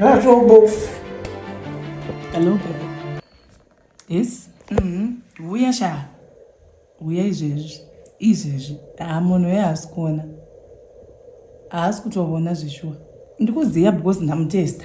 Robofu. Hello, baby. Yes? Mm-hmm. Huya sha. Huya izvezvi. Izvezvi. Ah, munhu uye haasi kuona. Haasi kutovona zveshuwa. Ndikuziva because ndamutesta.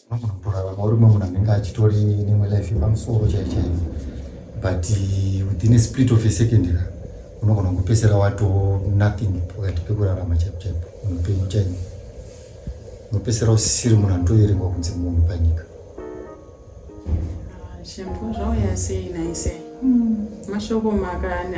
Unogona kutorarama uri munhu anenge achitori nemwe life yepamusoro chai chai but eh, within a split of a second ka unogona kupesera wato nothing pakati pekurarama chaipo chaipo unopenyu chaini unopesera usisiri munhu anotoverengwa kunze munhu panyika ah, shempo zvauya sei naise hmm. mashoko maka ane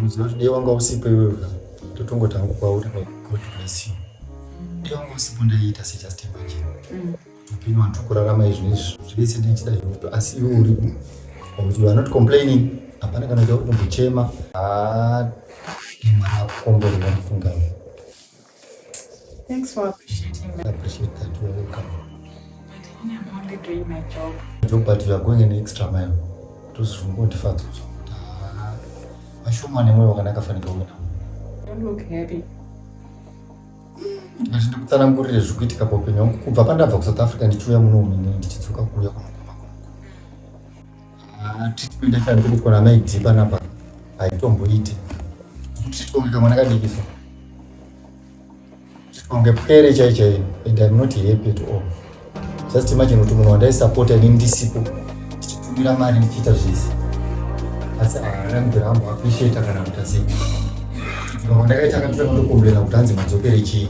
Ruziva kuti dai wanga usipo iwewe totongo tangu kwauri like God bless you. Dai wanga usipo ndaiita se just imagine. Mm. Upenyu wantu kurarama izvi nezvi zvese ndichida izvo asi iwe uri kuti you are not complaining hapana kana kuti uri kumbochema. Ah, mwari akukomborera mufunga iwe. Thanks for appreciating me. I appreciate that you are welcome. But I'm only doing my job. Job, but you are going an extra mile. Tuzvungotifadza kuti vashoma nemwoyo wakanaka fanika uya. Don't look happy. Ngati ndikutsanangurire zviri kuitika paupenyu hwangu kubva pandabva kuSouth Africa ndichiuya muno muno ndichidzoka kuuya kuno. Ah, treatment yacho handiri kuona mai d panapa haitomboiti treatment kamwe nakadikisa kunge pwere chai chai and im not happy at all just imagine kuti munhu wandaisapota ini ndisipo ndichitumira mari ndichiita zvese asi haana mudhara ambo appreciate kana kuti asi mamwe ndakaita akatotanga ndokumbirana kuti hanzi madzokere chii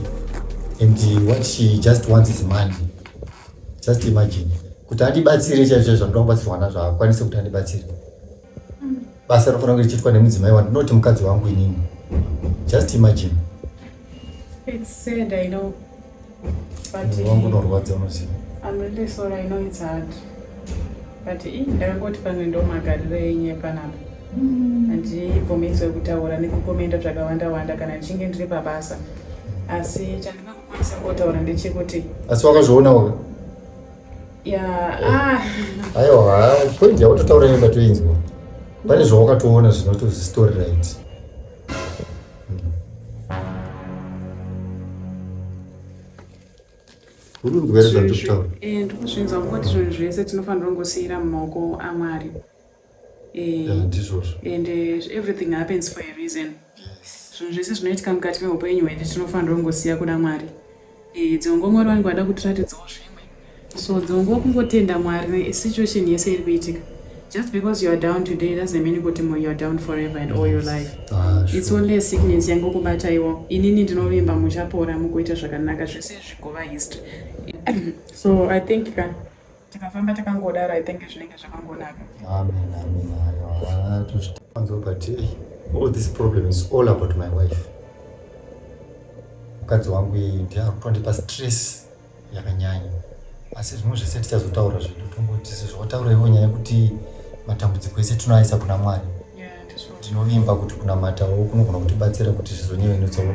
and what she just wants is money just imagine kuti andibatsire chaizvo chaizvo anoda kubatsirwa nazvo haakwanise kuti andibatsire basa rinofanira kunge richiitwa nemudzimai wandinoti mukadzi wangu inini just imagine It's sad, I know. But Munhu wangu unorwadza unoziva I'm really sorry, I know it's hard. But ii, ndakangoti pamwe ndo magariro enye panapa. Handibvumidzwe kutaura nekukomenda zvakawanda wanda kana ndichinge ndiri pabasa. Asi chandinga Chisambotaura ndechekuti. Asi wakazviona waka? Yeah. Ah. Aiwa, point yakutotaura yenda toinzwa. Pane zvawakatoona zvinoti story right. Urunzwere zvandikutaura. Eh, ndikuzvinzwa kuti zvinhu zvese tinofanira kungosiyira mumaoko aMwari. and uh, everything happens for a reason zvinhu zvese zvinoitika mukati meupenyu hwedu tinofanira kungosiya kuda mwari eh, dzimwe nguva mwari vanenge vada kutiratidzawo zvimwe so dzimwe nguva kungotenda mwari situation yese iri kuitika just because youare down today doesn't mean kuti youare down forever and all your life ah, its only a sickness yangokubataiwo inini ndinovimba muchapora mukuita zvakanaka zvese zvigova history so i think ka tikafamba takangodaro i think zvinenge zvakangonaka amen amen ayo tozvitanzwa but eh, all this problem is all about my wife mukadzi wangu iyi ndiye akutondipa stress yakanyanya asi zvimwe zvese tichazotaura zvedu tongoti sezvawataura ivo nyaya yekuti matambudziko ese tinoaisa kuna mwari tinovimba kuti kunamatawo kunogona kutibatsira kuti zvizonyevenutsawo